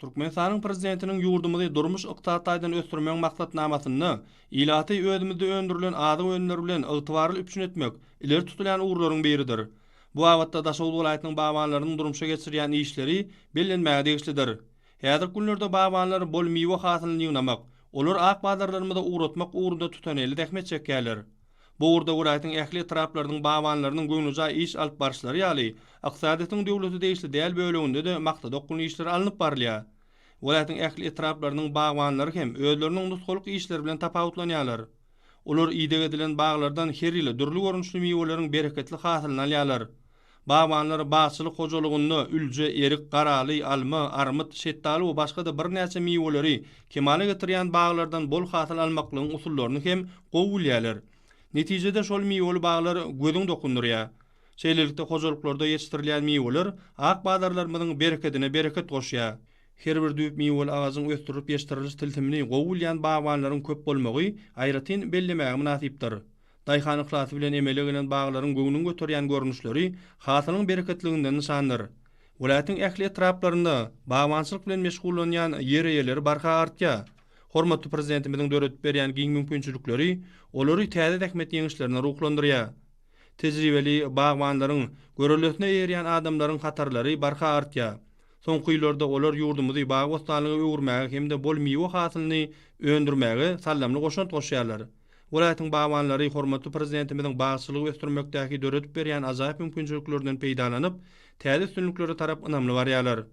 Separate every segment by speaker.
Speaker 1: Türkmenistanyň Prezidentiniň ýurdumyzy durmuş-ykdysady taýdan ösdürmegiň maksatnamasynda ilaty özümizde öndürilen azyk önümleri bilen ygtybarly üpjün etmek ileri tutulýan ugurlaryň biridir. Bu babatda Daşoguz welaýatynyň bagbanlarynyň durmuşa geçirýän işleri bellenmäge degişlidir. Häzirki günlerde bagbanlar bol miwe hasylyny ýygnamak, olary ak bazarlarymyza ugratmak ugrunda tutanelli zähmet çekýärler. Bu ugurda welaýatyň ähli etraplarynyň bagbanlarynyň göwnejaý iş alyp baryşlary ýaly, ykdysadyýetiň döwlete degişli däl böleginde-de maksada okgunly işler alnyp barylýar. Welaýatyň ähli etraplarynyň bagbanlary hem özleriniň nusgalyk işleri bilen tapawutlanýarlar. Olar ideg edilen baglardan her ýyl dürli görnüşli miweleriň bereketli hasylyny alýarlar. Bagbanlar bagçylyk hojalygynda ülje, erik, garaly, alma, armyt, şetdaly we başga-da birnäçe miweleri kemala getirýän baglardan bol hasyl almaklygyň usullaryny hem gowy bilýärler. Netijede şol miweli baglar gözüň dokundyrýar. Şeýlelikde hojalyklarda ýetişdirilýän miweler ak bazarlarymyzyň berekedine bereket goşýar. Her bir düýp miweli agajyň ösdürilip ýetişdiriliş tilsimini gowy bilýän bagbanlaryň köp bolmagy aýratyn bellemäge mynasypdyr. Daýhan yhlasy bilen emele gelen baglaryň göwnüňi göterýän görnüşleri hasylyň bereketliginden nyşandyr. Welaýatyň ähli etraplarynda bagbançylyk bilen meşgullanýan ýer eýeleri barha artýar. Hormatly Prezidentimiziň döredip berýän giň mümkinçilikleri olary täze zähmet ýeňişlerine ruhlandyrýar. Tejribeli bagbanlaryň, görellesine eýerýän adamlaryň hatarlary barha artýar. Soňky ýyllarda olar ýurdumyzy bagy-bossanlyga öwürmäge hem-de bol miwe hasylyny öndürmäge saldamly goşant goşýarlar. Welaýatyň bagbanlary hormatly Prezidentimiziň bagçylygy ösdürmekdäki döredip berýän ajaýyp mümkinçiliklerinden peýdalanyp, täze üstünliklere tarap ynamly barýarlar.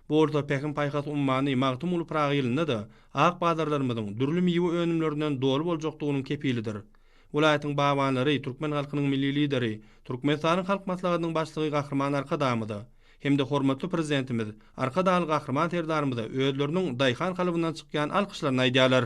Speaker 1: Bu bolsa Pähim-paýhas ummany Magtymguly Pyragy ýylynda-da ak bazarlarymyzyň dürli miwe önümlerinden doly boljakdygynyň kepilidir. Welaýatyň bagbanlary türkmen halkynyň Milli Lideri, Türkmenistanyň Halk Maslahatynyň Başlygy Gahryman Arkadagymyza hem-de hormatly Prezidentimiz Arkadagly Gahryman Serdarymyza özleriniň daýhan kalbyndan çykýan alkyşlaryny aýdýarlar.